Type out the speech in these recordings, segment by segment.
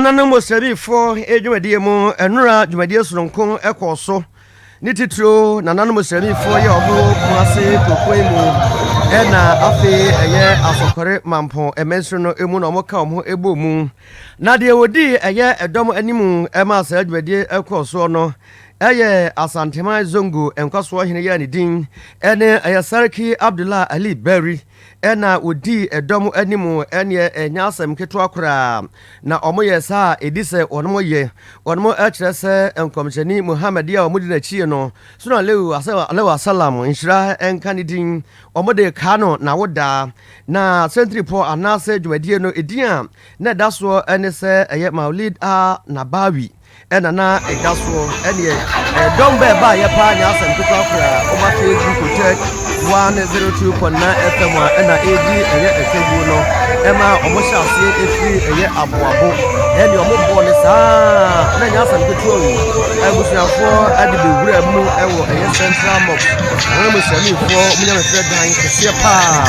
Nananom Osiarifoɔ dwumadie mu nnora dwumadie soronko kɔɔ so, ne titiriw nananom Osiarifoɔ yɛ wɔn wɔ Kumase kuropɔn yi mu na afei ɛyɛ Asɔkɔre Mampɔn mansini no mu na wɔka wɔn ho bɔɔ mu. Na deɛ wɔdii ɛyɛ ɛdɔm anim maa saa dwumadie kɔɔ soɔ no yɛ Asanteman Zongo nkwasoɔ hene yi a ne din ne ɛyɛ Sarki Abdullah Ali Bari. na wɔdii dɔm anim ɛneɛ ɛnyɛ asɛm ketewa koraa na wɔyɛ saa a ɛdi sɛ wɔnom yɛ wɔnom ɛkyerɛ sɛ nkɔmhyɛni Muhammad a wɔdi n'akyie no soro alaihi wasalam nhyira nka ne din wɔde kaa no na wodaa na sɛntiripɔ anaasɛ dwumadie no ɛdin a na ɛda soɔ ɛne sɛ ɛyɛ Maulid a Nabawi na na ɛda soɔ, ɛneɛ ɛyɛ dɔm bɛ baayɛ paa nyɛ asɛm ketewa koraa, wɔn ateɛ gu Kotek 102.9 FM a ɛna ɛredi ɛyɛ ɛsɛbuo no, ɛma wɔn hyɛ aseɛ ɛfiri ɛyɛ aboabo, ɛneɛ wɔn bɔɔ ne saa, na nyɛ asɛm ketewa o, abusuafoɔ ɛde bɛwura mu ɛwɔ ɛyɛ Central Mosque, ɛhɔ no Musliminfoɔ wɔn nyamesrɛ dan kɛseɛ paa,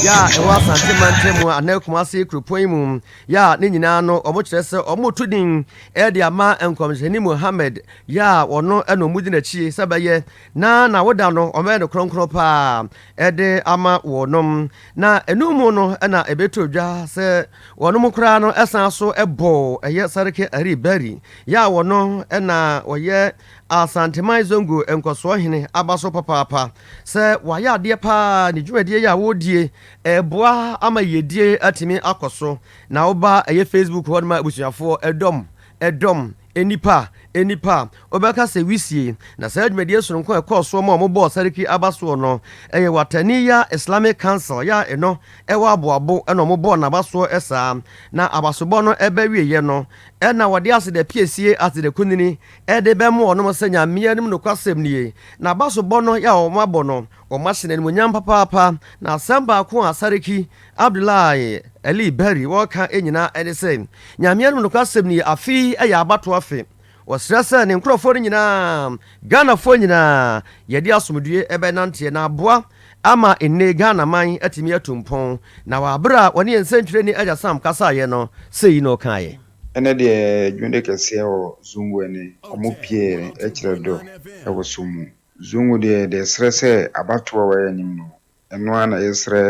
yɛ a ɛwɔ Asante mantam mu anaa Kumase kuropɔn yi mu. Yɛ a ne nyinaa no wɔkyerɛ sɛ wɔto din de ama Nkɔmhyɛni Muhammad, yɛ a wɔno na wɔdi n'akyi sɛ bɛyɛ, na n'awoda no wɔbɛyɛ no kronkron paa de ama wɔnom. Na ɛno mu no na ɛbɛtoo dwa sɛ wɔnom koraa no san so bɔɔ ɛyɛ Sarki Ari Bari, yɛ a wɔno na wɔyɛ Asanteman Zongo nkɔsoɔhene aba so papaapa, sɛ wɔayɛ adeɛ paa ne dwumadie yi a wɔredie Ɛboa ama yiedie atumi akɔ so na woba ɛyɛ Facebook hɔ nom a abusuafoɔ, ɛdɔm, ɛdɔm, nnipa, nnipa, wobɛka sɛ wisie. Na saa dwumadie sononko a ɛkɔɔ soɔ ma wɔn bɔɔ Sarki aba soɔ no, ɛyɛ Wataniya Islamic Council yɛ a ɛno ɛwɔ Aboabo ɛna wɔn bɔɔ n'aba soɔ saa. Na abasobɔ no ɛbɛwieɛ no ɛna wɔde aseda piesie aseda kunini ɛde bɛma wɔn sɛ Nyame anim nokwasɛm nie. Na abasobɔ no yɛ a wɔn abɔ no, Wɔahyɛ no animuonyam papaapa, na asɛm baako a Sarki Abdullahi Ali Berry wɔka nyinaa ne sɛ, Nyame anom nokwasɛm nie, afe yi yɛ abatoɔ afe. Ɔsrɛ sɛ ne nkorɔfoɔ no nyinaa, Ghanafoɔ nyinaa, yɛde asomdwoeɛ bɛnanteɛ na aboa ama nnee Ghanaman atumi atu mpɔn. Na wɔ aberɛ a ɔne yɛn sɛntwerɛni Agya Sam kasaeɛ no, sei na ɔkaeɛ. Ɛnɛ deɛ dwonde kɛseɛ wɔ Zumbu ɛne. Ɔmo pieɛ kyerɛ dɔ wɔ som mu. Zongo deɛ yɛde ɛsrɛ sɛ abatoɔ a wayɛ anim no ɛno ara na yɛsrɛ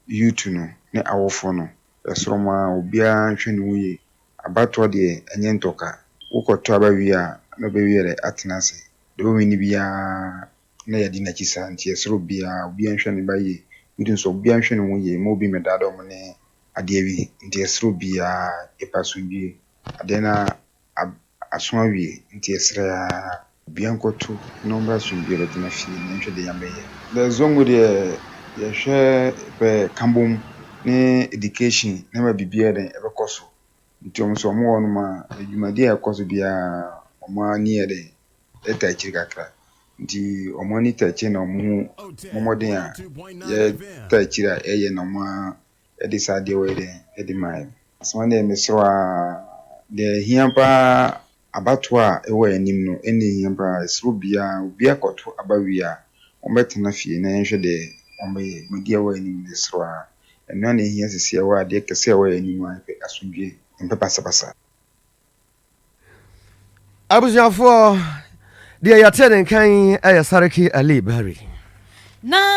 youth no ne awofoɔ no yɛsrɛ wɔn ara obiara nhwɛ ne ho yie abatoɔ deɛ ɛnyɛ ntɔka wokɔ tɔ aba wie a na ɔbɛwie dɛ atena ase deɛ ɔwini biara na yɛadi nakyi saa nti yɛsrɛ obiara obiara nhwɛ ne ba yie youth nso obiara nhwɛ ne ho yie mma obi mmɛdaa da wɔn ne adeɛ bi nti yɛsrɛ obiara yɛpɛ asomdwie adeɛ no ara. ab aso awie nti yɛsrɛ aa. Obia nkɔto na ɔmmra asomdwie bɛtena fie na yɛnhwɛ deɛ Nyame bɛyɛ. The Zongo deɛ yɛhwɛ pɛ kabom ne education na ama biribiaa yɛdɛn ɛbɛkɔ so nti ɔmo so ɔmo wɔ hɔnom a dwumadie a ɛkɔ so biaa ɔmo ani yɛ dɛn ɛtaa akyiri kakra nti ɔmo ani taa akyire na ɔmo ho mmɔmɔden a yɛtaa akyire a ɛyɛ na ɔmo a de saa adeɛ wei dɛn de maeɛ. Asɛm no deɛ mesrɛ wo aa deɛ ɛhia paa abatoɔ a ɛwɔ anim no ɛna ɛhia paa ɛsrɛ obiara obiara kɔto aba wie a wɔn bɛtena fie na yɛnhwɛ deɛ wɔn bɛyɛ ma deɛ ɛwɔ anim no yɛsrɛ wo aa ɛno ara na ɛhia sisi ɛwɔ adeɛ kɛse a ɛwɔ yɛn anim a yɛpɛ asomdwoeɛ yɛmpɛ basabasa. Abusuafoɔ, deɛ yɛte ne nka yi yɛ Sarki Ali Barry. Na.